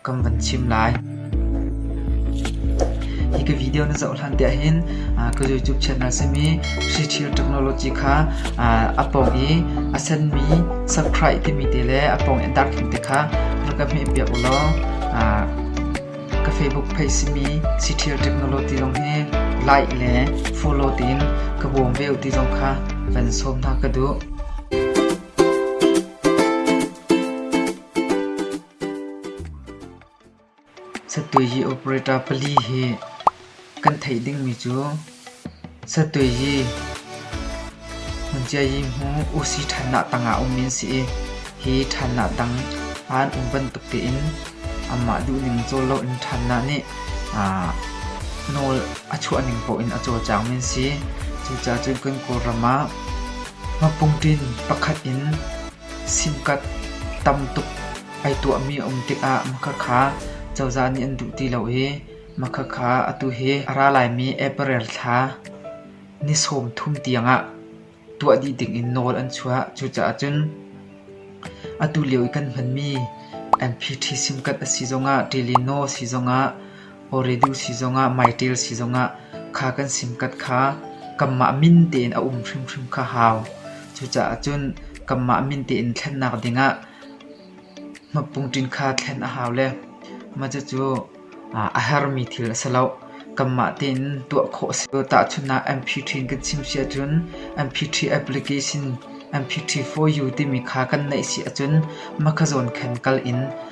Kan van chim lai. Hi ka video na zoh hlan tiah hin ka YouTube channel simi Hri Thil Technology kha a pawng i a senmi subscribe timi te le a pawng i dark timi te kha rak ka hmeh piak u law ka Facebook page simi Hri Thil Technology lawng hi like le follow tiin ka bawm ve u ti zong kha van sawm hna ka duh. Satweyi operator pali hi kan theih dingmi cu Satweyi Hmunciayi hmu UC ṭhannak tangah a ummi an si i hi ṭhannak tang an um bantuk tein anmah duhning cawl loin ṭhannak nih nawl a chuahning paoh in a cawlcangmi an si. Cucaah cun kan Kawlram ah mapungṭin pakhat in Simkat tam tuk ai tuahmi a um tikah makhakha cozah nih an duh ti lo i makhakha atu hi a ra laimi April thla ni sawm thum tiangah tuah dih dingin nawl an chuah. Cucaah cun atu lio i kan hmanmi MP ṭhi simkat a si zongah, ṭilino a si zongah Awridu si zongah maiṭil si zongah kha kan simkat kha kanmah min tein a um hrimhrim kha hau. Cucaah cun kanmah min tein thlennak dingah hmapungṭin kha thlen a hau le macacu a hermi thil a si loh. Kanmah tein tuah khawh a si lo. Tahchunhnak MP3 kan chim si ahcun MP3 application MP3 for you timi kha kan neih si ahcun makhazawn khan kal in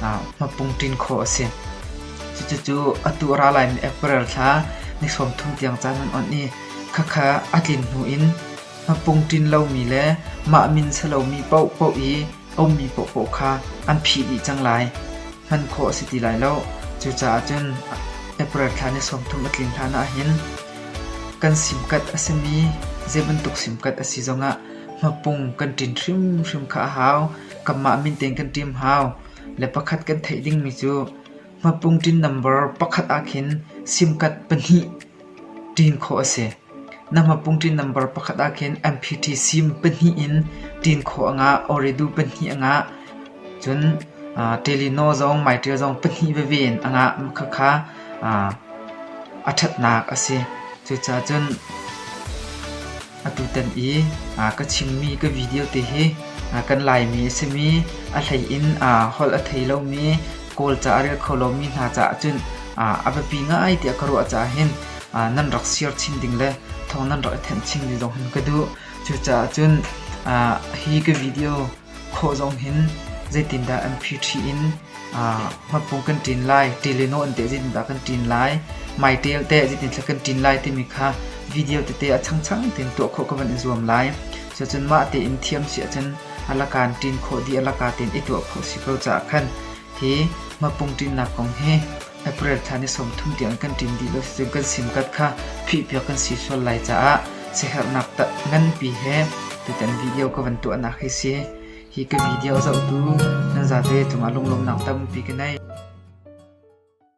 hmapungṭin khawh a si. Cucu atu a ra laimi April thla ni sawm thum tiang caan an onh i khakha a tlin hnu in hmapungṭin lomi le mah min si lomi paohpaoh i a ummi paohpaoh kha an phih dih cang lai. Hman khawh a si ti lai lo. Cucaah cun April thla ni sawm thum a tlin hlan ahhin kan simkat a simi zei bantuk simkat a si zongah hmapung kan ṭin hrimhrim kha a hau. Kanmah min tein kan ṭim hau. Le pakhat kan theih dingmi cu hmapung ṭin nambar pakhat ahkhin simkat pahnih ṭin khawh a si. Na hmapung ṭin nambar pakhat ahkhin MPT sim pahnih in ṭin khawh a ngah. Oridu pahnih a ngah. Cun Telino zong Maiṭia zong pahnih veve in a ngah. Khakha a ṭhatnak a si. Cucaah cun Atutan i ka chimmi ka video te hi kan Laimi a simi a hlei in holh a thei lomi Kawlca a rel kho lomi hna caah cun a biapi ngai tiah ka ruah caah hin nan rak share chin ding le thawng nan rak i thenh chin ding zong hin ka duh. Cucaah cun hi ka video khawh zong hin zeitindah an phi ṭhi in hmatpung kan ṭin lai, ṭil le naw an teh zeitindah kan ṭin lai, maiṭel teh zeitindah kan ṭin lai timi kha video tete a changchang tein tuah khawh ka van i zuam lai. Cucun mah tein thiam si ahcun a lakaan ṭin khawh dih a laka tein i tuah khawh si ko caah khan hi hmatpung ṭinnak kong hi April thla ni sawmthum tiang in kan ṭin dih lo sicun kan simkat kha phihpiak kan si sual lai caah siaherhnak nganpi he tutan video ka van tuahnak hi si. Hi ka video zohtu nan zate cungah lunglawmnak tampi ka nei.